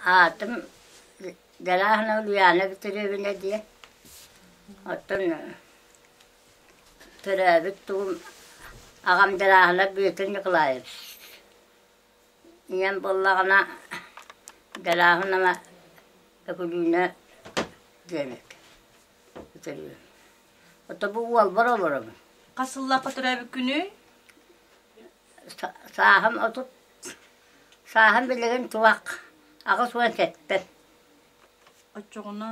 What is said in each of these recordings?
Аатым Галяхина Ульяна Витеревна диэн, оттон төрөөбүт тылым аҕам Галяхина Бүөтүр Николаевич. Ийэм буоллаҕына Галяхинова Өкүлүүнэ диэн Витеревна. Ото бу уолбар олоробун. Хас сыллаахха төрөөбүккүнүй? сааһым отут сааһым билигин чугах аҕыс уон сэттэн Оччоҕуна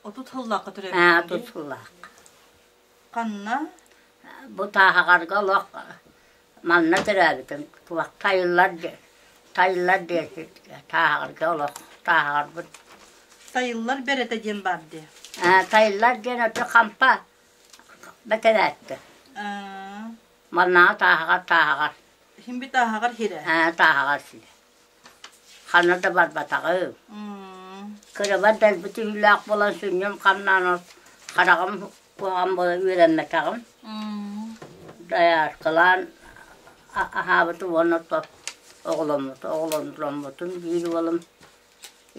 отут сыллаахха төрөөбүтүҥ аа отут сыллаах ханна бу тааһаҕарга олох манна төрөөбүтүм туох тайыллар тайыллар диэки тааһаҕарга олох тааһаҕарбыт тайыллар бэрэтэ диэн баар дии ээ тайыллар диэн оту хампа бэтэрээттэ аа Маннаҕа тааһаҕар тааһаҕар. Симби тааһаҕар сирэ. Ээ, тааһаҕар сирэ. Ханна да барбатаҕым. Кырабар дэлби түһүүлээх буолан сүнньүн хамнаан хараҕым куоҕам буолан үөрэммэтэҕим. Дайааркалаан аһаабытым уонна оҕоломмут оҕоломмутум биир уолум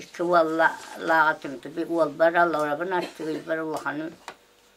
икки уоллааҕа түмтүбүт уолбар алларабын астыгыйбар улаханын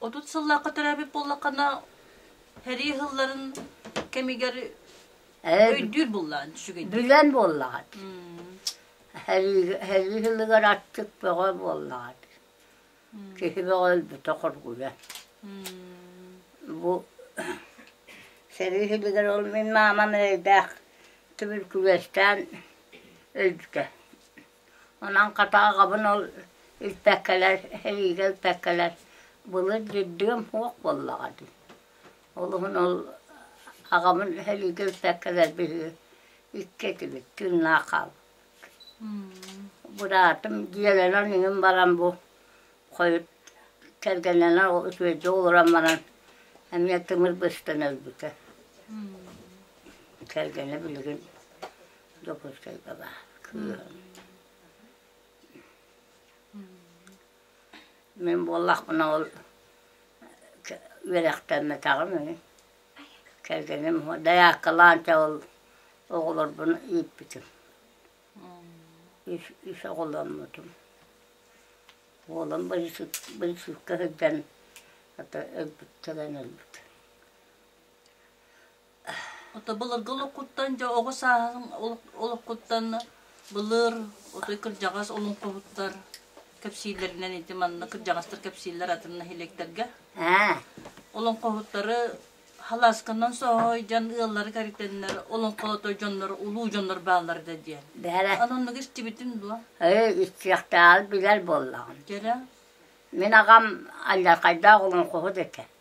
Отут сыллаахха төрөөбүт буоллаххына, һэрии ыһылларын кэмигэр Ээ, өйдүүр буллаан сүгэн. билэн буоллаҕат. Һэрии һэрии ыһылыгар аттык бөҕө буоллаҕат. Киһи бөҕө өлбүтэ хоргуйа. Бу сэрии ыһылыгар ол мин маамам эрэйдээх түбүркүлэстээн өлбүтэ. Онон хата аҕабын ол илпэккэлэр, сэриигэ илпэккэлэр былыр дьирдигэм суох буоллаҕа дии. Ол иһин ол аҕабын сэриигэ илпэккэлэр биһиги икки этибит тыыннаах хаалбыппыт. Быраатым дьиэлэнэн иҥин баран бу хойут кэргэннэнэн үтүөдьү олорон баран эмиэ тымыр быстан өлбүтэ. Кэргэнэ билигин Дьокуускай баба кыыһым. Мин буоллахпына ол үөрэхтэммэтэҕим үһү. Кэргэним дояркалаан ол оҕолорбун ииппитим. Үс, үс оҕоломмутум. Уолум быйысыпка сылдьан өлбүт, кэлэн өлбүт. Ото былыргы олоххуттан дьэ оҕо сааһын олоххуттан былыр отой кырдьаҕас олоҥхоһуттар кэпсииллэринэн ити манна кырдьаҕастар кэпсииллэр атын нэһилиэктэргэ. Олоҥхоһуттары халаасканан соһой дьон ыаллары кэритэннэр олоҥхолото дьоннор улуу дьоннор бааллар да диэн. Бэһэрэ. Оннук истибитин дуо? Ээ, истиэхтээҕи билэр буоллаҕым. Кэрэ. Мин аҕам аллархайдаах олоҥхоһут этэ.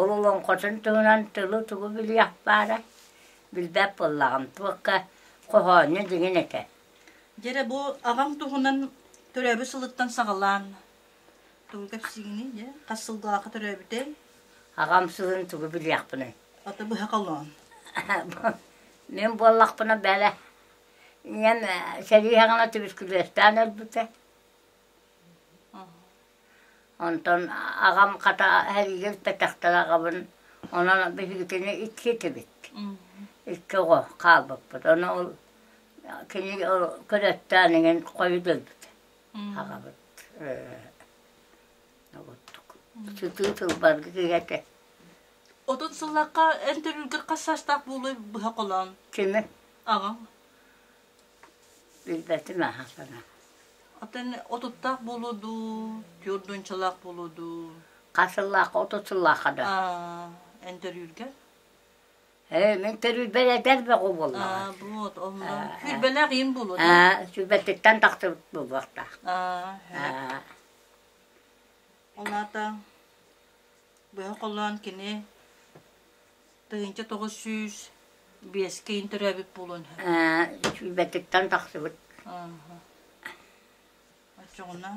Ололоҥхотун туһунан тылы-тугу билиэх баара, билбэт буоллаҕым, туохха хоһоонньу диҥин этэ. Дьэ эрэ бу аҕаҥ туһунан төрөөбүт сылыттан саҕалаан тугу кэпсиигиний, дьэ хас сылгылаахха төрөөбүтэй? Аҕам сылын тугу билиэхпиний? Ото быһа холоон. Мин буоллахпына бэлэ. Ийэм э, сэрии аҕана түбүскүлүөстээн өлбүтэ. Онтон аҕам хата эһиги эппэтэхтэрэ аҕабын онон биһигитини икки этибит. Икки оҕо хаалбыппыт. Ону ол кини ол көрөттөөн иҥин хойут өлбүт аҕабыт сытыы тылбарга кигэтэ Отут сыллахха эн төрүүлгэр хас саастаах буолуой быһа холоон? Кими? Аҕаҥ. Билбэтим аһа гына. Отон отуттаах буолуо дуу, түөрдүнчалаах буолуо дуу? Хас сыллаахха, отут сыллаахха да. Аа, интервьюрга? Ээ, мин төрүүрбэр эдэр бөҕө буоллаҕа. Аа, буот, онно. Күүрбэлээх ийэм буолуо дуу? Аа, сүбэтиттэн тахсыбыт буолуохтаах. Аа, Аа, ол аата быһа холлоон кини тыһыынча тоҕус сүүс биэскэ интэрээбит буолуон сөп. Бэтиттэн тахсыбыт. Оччоҕуна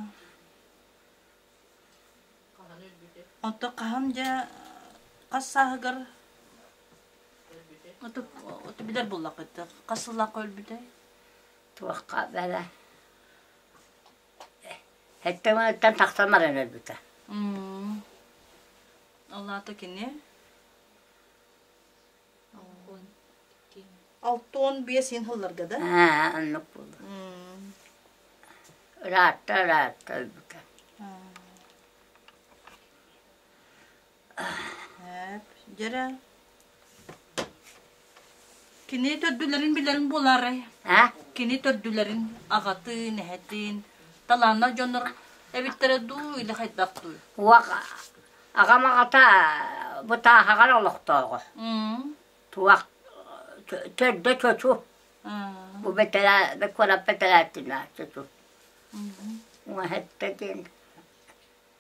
Оттон хаһан дьэ хас сааһыгар оту билэр буллахыт хас сыллаахха өлбүтэй? Туохха бэлэ. Эттэ мыныттан тахсан баран өлбүтэ. Ол аата кини? Алта уон биэс иһин сылларга да? Аа, оннук буолла. Ыраатта, ыраатта өлбүтэ. Дьэрэ, кини төрдүлэрин билэрин булаарай? А? Кини төрдүлэрин аҕатыын, эһэтин, талааннах дьоннор эбиттэрэ дуу, или хайдах дуу? Уох, аҕам аҕата бытааһаҕар олохтооҕо. Туох төрдө чочу. Бу куорат бэтэрээтинэ чочу. Уҥа hetте диэн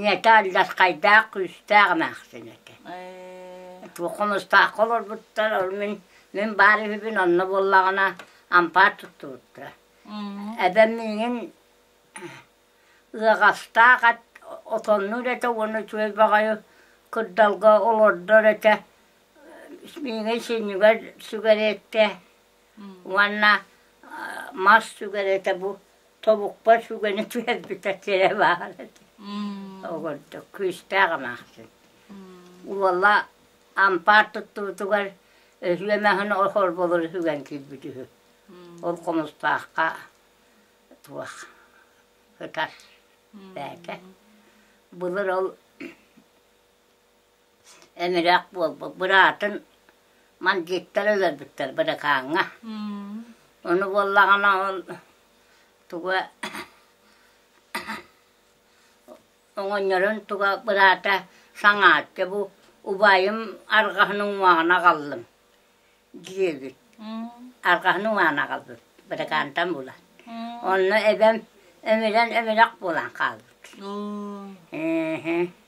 ийэтэ алдьархайдаах күүстээх эмээхсин этэ туох хомустаахха олорбуттар ол мин мин баар үһүбүн онно буоллаҕына ампаар туттубуттар эбэм миигин ыаҕастаах ат отоннуур этэ уонна үчүгэй баҕайы кырдалга олордор этэ миигин сүнньүгэр сүгэриэттэ Уонна мас сүгэр этэ бу тобукпа сүгэни түһэрбитэ сирэ баара этэ ол курдук күүстээх эмээхсин уола ампаар туттубутугар өһүө маһын холболор сүгэн киирбит үһү ол хомустаахха туох ытар бээтэ былыр ол Эмирэх буолбут быраатын мандьыыттар өлөрбүттэр быракааҥҥа. Ону буоллаҕына ол туга оҥонньорун туга быраата саҥааччы бу убайым арҕаһын уҥуоҕун аҕаллым диэбит. Арҕаһын уҥаан аҕалбыт быракаантан булан. Онно эбэм эмирэн эмирэх буолан хаалбыт. Эһэ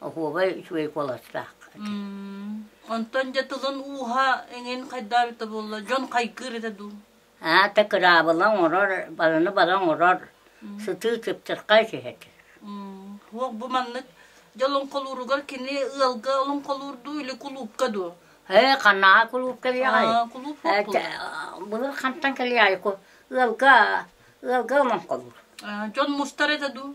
оһуобай үчүгэй куоластаах. Онтон дьэ тылын ууһа эҥин хайдаабыта буолла? Дьон хайгыыр этэ дуу? Аата кыраабыла оҥорор, баланы бала оҥорор, сытыы чыпчырхай түһэтэр. Уох бу маннык дьолоҥхолууругар кини ыалга олоҥхолуурдуу или кулуупка дуу? Ээ, ханааҕа кулуупка кэлиэҕэй? Былыр хантан кэлиэҕэй? Ыалга, ыалга олоҥхолуур. Дьон мустар этэ дуу?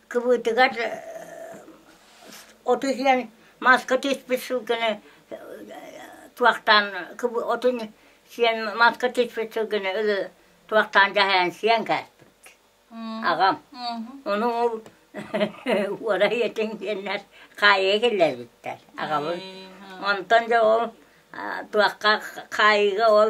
кыбыытыгар оту иһэн мааска тиспит сылгыны туохтаан отун сиэн мааска тиспит сылгыны ылы туохтаан дьаһайан сиэн кээспит аҕам ону уора ийэтин диэннэр хаайыы киллэрбиттэр аҕабын онтон дьэ ол туохха хаайыыга ол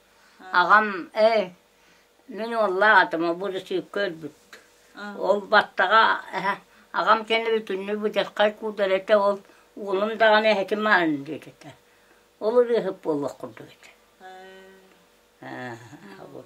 Аҕам ээ мин уоллаах этим обурусуйка өлбүт ол баттаҕа эһэ аҕам кэнэ бүтүннүү быдьаххай куудара этэ ол уолум даҕаны эһэтин маһын диэт этэ ол ырыаһыт буолуох курдук этэ аа ол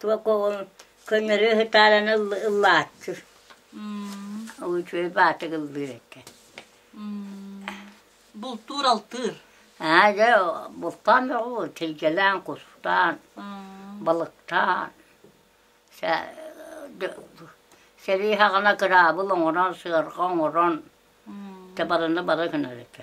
Туока уол көннөрү ыһытаараны ыллааччы. Ол үчүгэй баатык ыллыыр этэ. Бултуур алтыыр. Аа дьэ бултаан бөҕү тилгэлээн кустаан балыктаан сэ сэрии хаҕына кыраабыл оҥорон сыарҕа оҥорон табарыны бары гынар этэ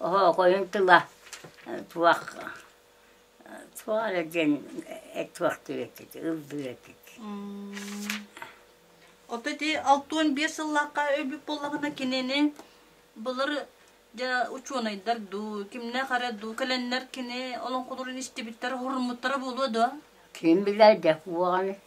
Оһоохойун тыла туох туох эрэ диэн туохтуур этит, ыллыыр этит. Ото ити алта уон биэс сыллаахха өлбүт буоллаҕына кинини былыр дьэ учуонайдар дуу, кимнээх эрэ дуу кэлэннэр кини олоҥхолорун истибиттэрэ, хоһуруммуттара буолуо дуо? Ким билэр да уоҕаны.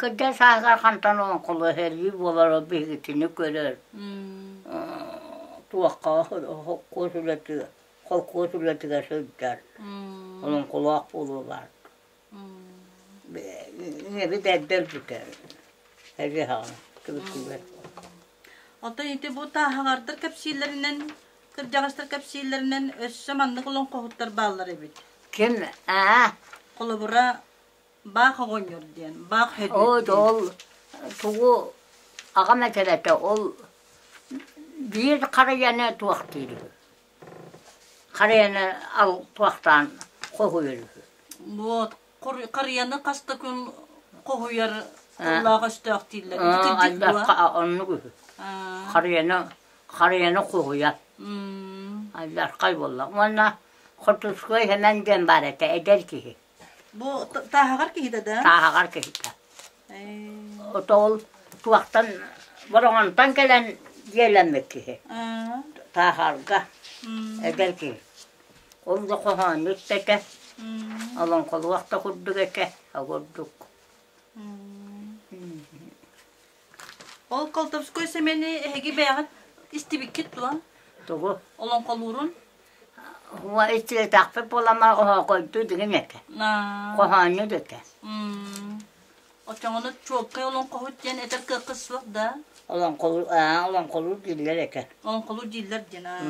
Кырдьан сааһыгар хантан оҥхолоһорүй буолара биһигитини көрөр туохха холкуос үлэтэ холкуос үлэтигэр сылдьар олоҥхолоох буолуолар ийэбит эрдэ өлбүтэ Оттон ити бу тааһалардар кэпсииллэринэн кырдьаҕастар кэпсииллэринэн өссө маннык олоҥхоһуттар бааллар эбит ким аа холобура Баах оҕонньор диэн, баах хөдүөт диэн. Ол тугу аҕам этэрэтэ ол биир харыйаны туохтиир. Харыйаны ал туохтаан хоһуйар үһү. Вот харыйаны хас да күн хоһуйар улаах өстөөх дииллэр. Альбакка оннук үһү. Харыйаны харыйаны хоһуйар. Альбаккай буолла. Уонна Хотуцкой Хэмэн диэн баар этэ эдэр киһи. Бу тааһаҕар киһитэ да? Тааһаҕар киһитэ. Отол туохтан Бороҕонтон кэлэн дьиэлэммит киһи. Тааһарга эдэр киһи. Ол да хоһоонньут этэ. Олоҥхолуох да курдук этэ, а курдук. Ол Колтовской Сэмэни эһиги бэйэҕит истибиккит дуо? Тугу? Олоҥхолуурун? Уо истибэтэхпит буоламаҕа хоһоокойдуу диҥин этэ. Хоһоонньу этэ. Оччоҕуна чуолкай олоҥхоһут диэн этэр кыаххыт суох да? Олоҥхолуур, аа, олоҥхолуур дииллэр этэ. Олоҥхолуур дииллэр диэн, аа.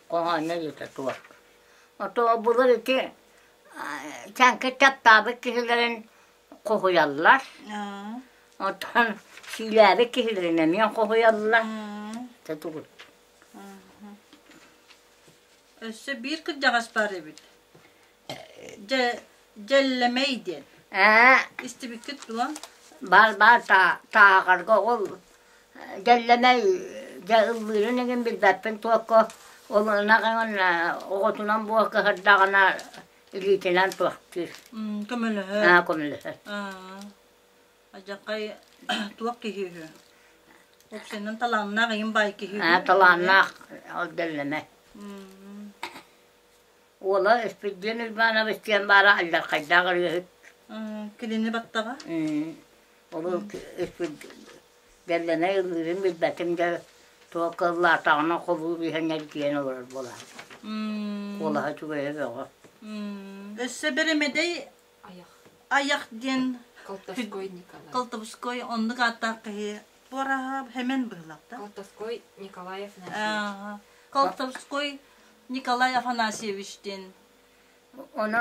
Хоһоонньо этэ туох. Ото булар ити Чаҥкы таптаабыт киһилэрин хоһуйаллар. Оттон сиилээбит киһилэрин эмиэ хоһуйаллар. Өссө биир кырдьаҕас баар эбит. Дьэ, дьэллэмэй диэн. Истибиккит дуо? Бар, бар, тааҕарга ол Кэллэнэй дьэ ыллыырын игин билбэппин туокка ол ынах иҥин оҕотунан буо кыһардаҕына илиитинэн туохтуур көмөлөһөр аа көмөлөһөр адьакай туох киһи үһү общинан талааннаах ийин баай киһи аа талааннаах ол дэллэмэ уола Эспирдиэн Уйбаанабыс диэн баара аллархайдаах ырыаһыт кинини баттаҕа Ол бэллэнэ ылыырын билбэтим да туолка ыллаатаҕына холууп иһэн эргийэн олорор буолаахпын. Куолаһа үчүгэйэ бөҕө. Өссө бэримэдэй айах диэн Колтовской Николай. Колтовской оннук ааттаах киһи туораһа Хэмэн быһылаах да. Колтовской Николаев Афанасьевич. Колтовской Николай Афанасьевич диэн. Оны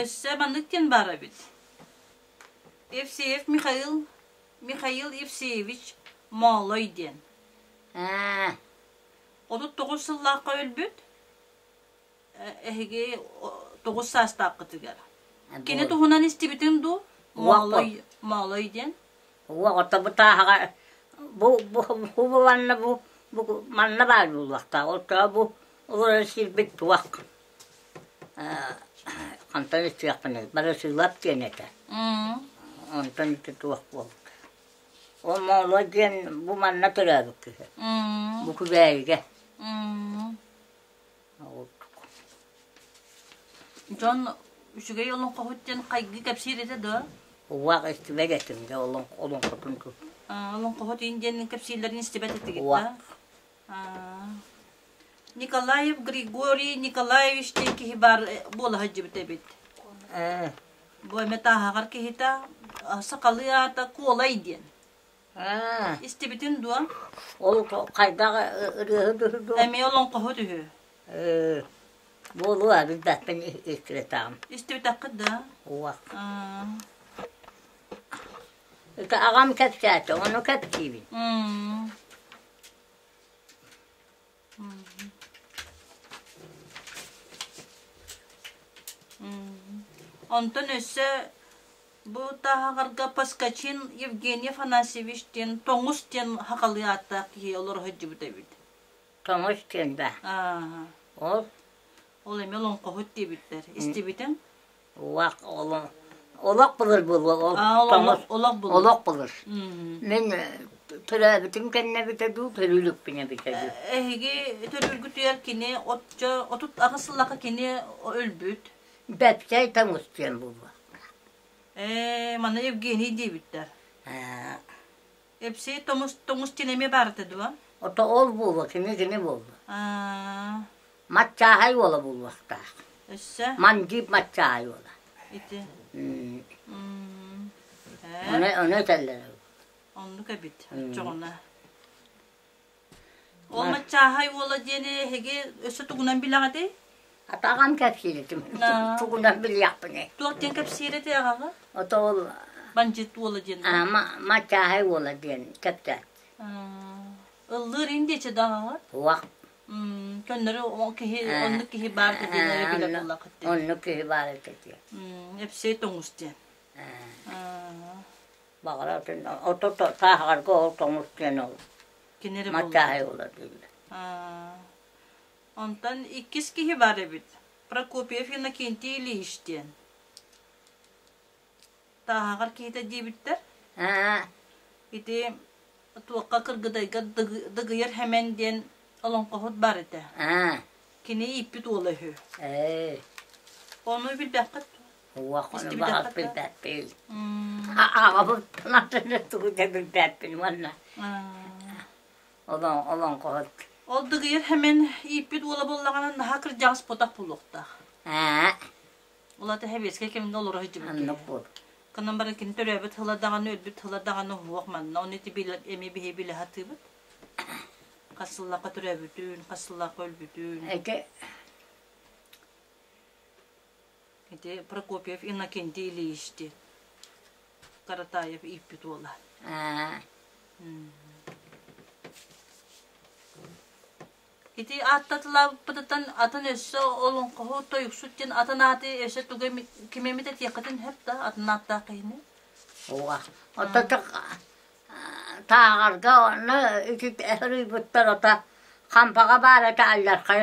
Өссө маннык диэн баар эбит. Евсеев Михаил Михаил Евсеевич Моолой диэн. Отут тоҕус сыллаахха өлбүт. Эһиги тоҕус саастааххытыгар. Кини туһунан истибитин дуу? Моолой Моолой диэн. Уоҕото бу тааһаҕа бу бу бу манна бу бу манна баар буолуохтаах. Ол бу олорон сирбит туох. Хантан иччиэхпиний, бары сыылап диэн этэ. Онтон ити туох буолбута. Ол Моолуо диэн бу манна төрөөбүт киһи. Бу Күбээйигэ. Дьон үчүгэй олоҥхоһут диэн хайгы кэпсиир этэ да? Уак истибэт этим де олоҥхотун ту. Олоҥхоһут иин диэн кэпсииллэрин истибэт этигит да? Николаев Григорий Николаевич диэн киһи баар буола сылдьыбыт эбит. Ээ. Бу эмэ тааһаҕар киһитэ сахалыы аата Куолай диэн. Истибитин дуо? Ол хайдах ырыаһы түһү Эмиэ олоҥхоһу түһү. Ээ. Буолуо билбэппин иккилэтаам. Истибитэххит да? Уа. Аҕам кэпсээтэ, ону кэпсиибин. Онтон өссө бу тааһаҕарга Поскачин Евгений Афанасьевич диэн тоҥус диэн хахалыы ааттаах киһи олоро сылдьыбыт эбит. Тоҥус диэн да. Ол ол эмиэ олоҥхоһут диэбиттэр. Истибитиҥ? Уах олох олох былыр буолуо ол тоҥус олох былыр мин төрөөбүтүм кэннэбитэ дуу төрүүлүкпүн эбитэ дуу эһиги төрүүлгүтүгэр кини отчо отут аҕыс сыллаха кини өлбүт бэпсэй тоҥус диэн буолуо ээ маны евгений диэбиттэр Эпсэй тоҥус, тоҥус дьин эмиэ баарыта дуо? Ото ол буолуо, кини кини буолуо. Аа. Маччааһай уола буолуохтаах. Өссө? Мандьыып маччааһай уола. Ити. М. Ө. Ону, ону этэллэр. Оннук эбит. Оччоҕуна. Ол маччааһай уола диэни эһиги өссө тугунан билэҕитий? Атаҕам кэпсииритим. Тугунан билиэхпиний? Туох диэн кэпсиир этэй аҕаҕа? Ото ол Бандьыыт уола диэн. маччааһай уола диэн кэпсэт. Ыллыыр индиичи да аҕаҕа? Уах. Көннөрү киһи оннук киһи баар да диэн эрэ билэр буоллахыт диэн. Оннук киһи баар этэ диэн. Эпсэй тоҥус диэн. Баҕарар ото тааһаҕарга ол тоҥус диэн ол кини эрэ Матчаһай буолар дииллэр. Онтон иккис киһи бар эбит. Прокопьев Иннокентий Ильич диэн. Тааһаҕар киһитэ диэбиттэр. Ити туохха кыргыдайга дыгыйар хэмэн диэн олоҥхоһут бар этэ. Кини ииппит уола үһү. Ону билбэххит Уохону баһа билбэппин. Аҕабыттан атыны тугу да билбэппин уонна олон олон кот. Ол дыгыйар хэмэн ииппит уола боллаҕана наһаа кырдьаҕаспотах булуохтаах. Ээ. Улата хэбиэскэ кимde олорор дьыбыт. Кынан бары кин төрөөбүт тыла даҕаны өлбүт тыла даҕаны уһуох манна оны ти билэ эми биһи билэ хатыыбыт. Хасыллахха төрөөбүтүн, хасыллахха өлбүтүн. Эти Ити Прокопьев Иннокентий Ильич диэн Каратаев ииппит уола. Ити ааттатылаабыппытыттан атын өссө олоҥхоһу тойуксут диэн атын ааты өссө туга кимэмит этиэххитин хэп да атын ааттаах киһини. Ууга. Оттон тааҕарга онно үтүк өрүйбуттар ата хампаҕа баар этэ аллархай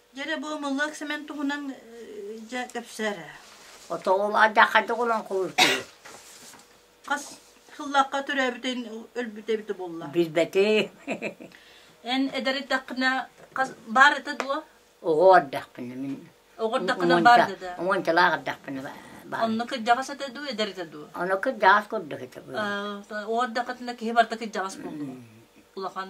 Дьэрэ бу омоллоох Сэмэн туһунан дьэ кэпсээр. Отоҕул адахады гулан кулутуу. Хас хыллахха төрөөбүтүн өлбүтэ эбитэ булла. Билбэти. Эн эдэриттэххинэ хас баар это дуо? Оҕо ардахпына мин. Оҕо ардахпына баар это. Оҥончалаах ардахпына баар. Онно кырдьаҕас этэ дуу, эдэр этэ дуу? Оно кырдьаҕас курдук этэ бу. Оҕо ардахпына киһи барда кырдьаҕас булду. Улахан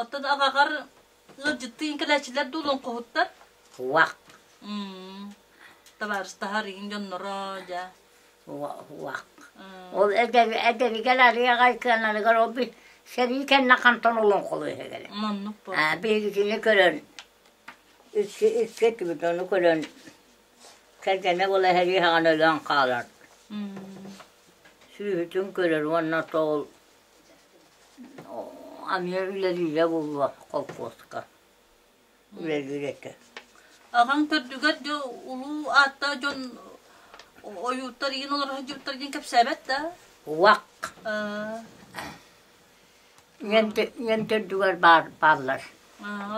Оттон аҕаҕар ыалдьыттыын кэлээччилэр дуулун хоһуттар? Уах. Табаарыстаһар иин дьонноро, дьэ. Уах. Ол эдэниген арыйаҕай кыананыгар ол би сэрии кэннэ хантан олон холуйа келе. Маннык бу. А бииргини көрөн икки икки түбүтөну көрөн кэргэнэ бола хэрии хаҕан өлөн хаалар. Сүүһүтүн көрөр уонна тоол Эмиэ үлэлиирэ буолуо холкуоска. Үлэлиирэккэ. Аҕаҥ төрдүгэр да улуу ааттаах дьон ойууттар иин олорор сылдьыбыттар диэн кэпсээбэт да? Уак. Ийэн төрдүгэр баар бааллар.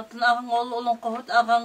Атын аҕаҥ ол олоҥхоһут аҕаҥ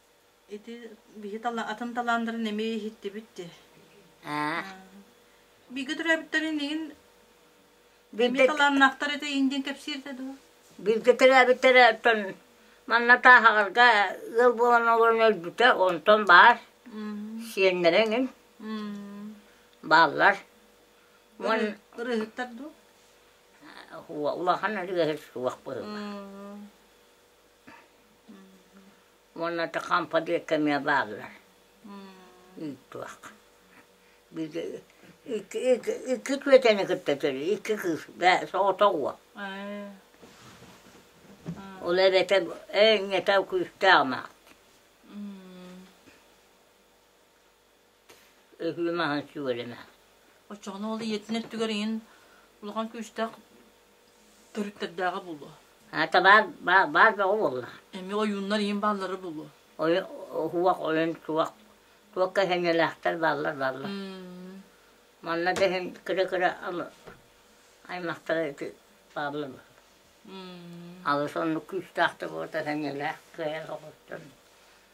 Ити биһи тала, атын талаандарын эмиэ иһиттибит дии. Бииргэ төрөөбүттэр инигин эмиэ талааннаахтар этэ иин диэн кэпсииртэ дуо? Бииргэ төрөөбүттэрэ оттон манна тааһаҕарга ыал буолан олорон өлбүтэ, онтон баар. Сиэннэрэ эҥин. Бааллар. Ырыһыттар дуу? Улахан ырыаһыт суох быһыма. уонна хампа диэкки эмиэ бааллар ыыттыах икки түөтэни кытта төрүү икки кыыс соҕотох уол ол эбэтэ eenyete күүстээх маах Ыһыы маһын сүгэлэмэ. Оччоҕуна ол ийэтин өттүгэр иһин улахан күүстээх төрүттэрдээҕэ буолуо. Аата баар, баар, баар бөҕө буолла. Эмиэ ойууннар иһин бааллара буолуо. Ойун, уһуох, ойун, туох, туохха сэниэлээхтэр бааллар бааллар. Манна да иһин кыра-кыра алы аймахтара ити бааллар. Алыс оннук күүстээх да буолта сэниэлээх кыайан соҕустан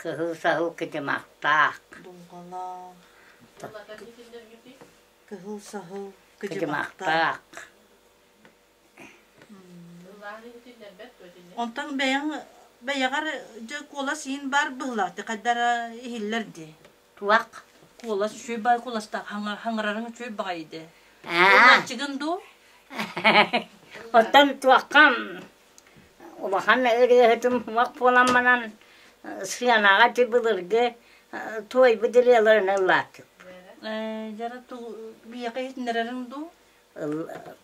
Кыһыл саһыл кыдьымахтаах. Кыһыл саһыл кыдьымахтаах. Онтон бэйэҥ бэйэҕэр дьэ куолас иин баар быһылааты хайдара иһиллэр дии. Туох? Куолас үчүгэй бай куоластаах хаҥарарын үчүгэй баҕайы дэ. Ыллааччыгын дуу? Оттон туоххам? Улахан ырыаһытым омук буолан баран схенаҕа ити былыргы туойбут ырыаларын ыллаатыбыт. Ээ дьара тугу биһиэхэ иһитиннэрэрин дуу?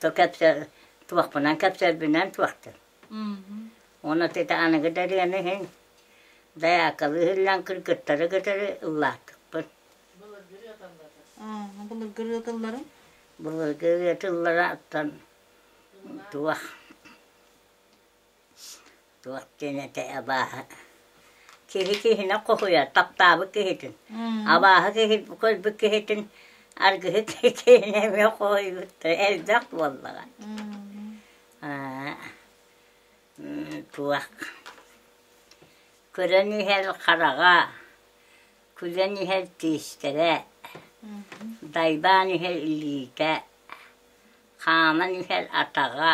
Ту кэпсээ туохпунан кэпсээрбинэн туохтун. Уонна ити аныгы да ырыаны иһин дьаяккалы иһиллэн кыргыттары кытары ыллаатыбыт. Былыргы ырыа тылларын? Былыргы ырыа тылларын? Туох туох диэн этэй абааһы киһи киһини хоһуйар таптаабыт киһитин абааһы киһи көрбүт киһитин аргыһы киһини эмиэ хоһуйбуттар элбэх буоллаҕа туох көрөн иһэр хараҕа күлэн иһэр тиистэрэ дайбаан иһэр илиитэ хааман иһэр атаҕа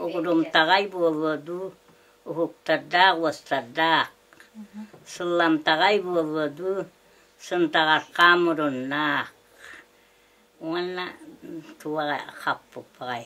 угрумтаҕай буолуо дуу уһуктардаах уостардаах сылламтаҕай буолуо дуу сынтаҕархаа муруннаах уонна туох хаппыппаҕай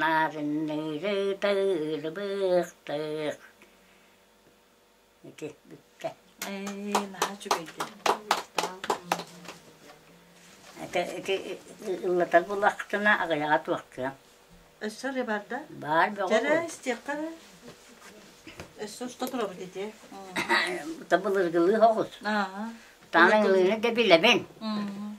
Нарынныыры тыылыбыахтыыр ити бүккэ Эй, наһаа үчүгэйдик. ити ити ыллатар булахтына аҕыйаҕа туохтуом Өссө эрэ бар да? баар бөҕө Дьэрэ, истиэххэ эрэ. Өссө уста туруохут ити. бута былыргылыах оҕус Аа. таан ылыыны да билэбин Мм.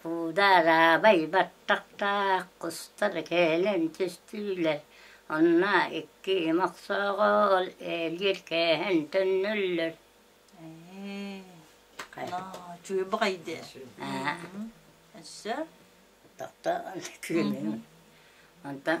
Кууда араабай баттахтаах кустар кэлэн түстүүлэр, онно икки им охсоого ол ээлиир кээһэн төннөллөр Чуйбаҕай дии өссө тохтоон күлүм онтон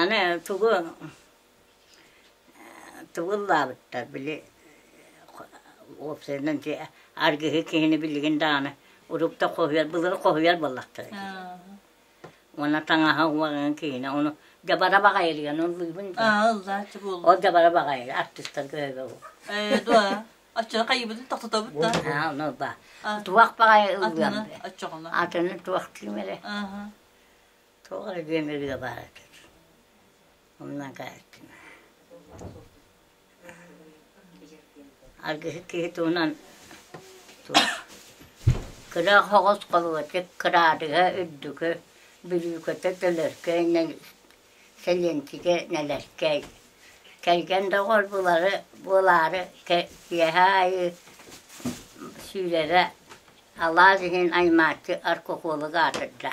Аны тугу тугу ыллаабыттар били уопсайынан аргыһы киһини билигин даҕаны урут да хоһуйар былыргы хоһуйар буоллахтара уонна таҥаһа уоҕын киһини ону дьабара баҕайыгын ыллыыбын ол дьабара баҕайы артыыстарга өйбө оччоно хайыбытын тохтотобут да ону ба туох баҕайы ыллыам атын туох ким эрэ Туох эрэ бүөмэргэ баар этим. Умнан хаайттым. Аргыһы киһи туһунан кыра хоҕус холуочук кыраадыга үрдүкү бүрүүкэтэ төлөркөй сэлиэнчигэ нэлэркэй кэргэн доҕор булары буолаары киэһэ аайы сүүрэрэ алаас иһин аймааччы оркукуолуга атырдьа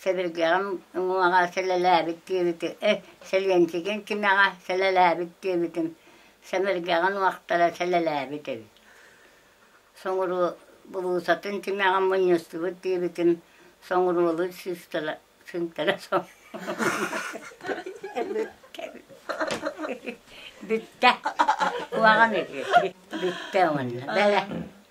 Сэбиргэҕим уҥуоҕа сэлэлээбит диэбити, э, Сэлиэнчигин кимэҕэ сэлэлээбит диэбитим, сэмэргэҕин уохтара сэлэлээбит эбит. Соҥуруу булуусатын тимэҕин мунньустубут диэбитим, соҥуруолу сыыстара сынтара соҥ Бүттэ. Куһаҕан үһү. Бүттэ уонна. Бэлэ.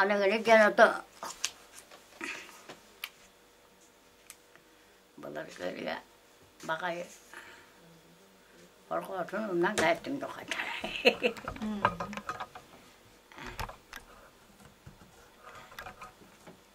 Аныгыны диэн ото былыргы ырыа баҕайы хорҕоотун умнан кээттим духатарай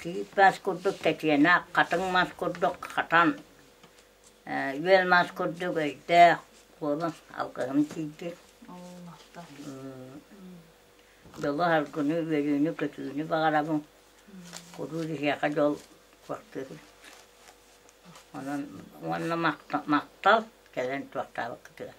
киһит мас курдук тэтиэнэх хатыҥ мас курдук хатан үөл мас курдук өйдөөх куолун алгыһым тиийбит дьолу аргыны үөрүүнү көтүүнү баҕарабын куруук иһиэхэ дьол кортуһун онон уонна махтал кэлэн туохтаабыккытыгар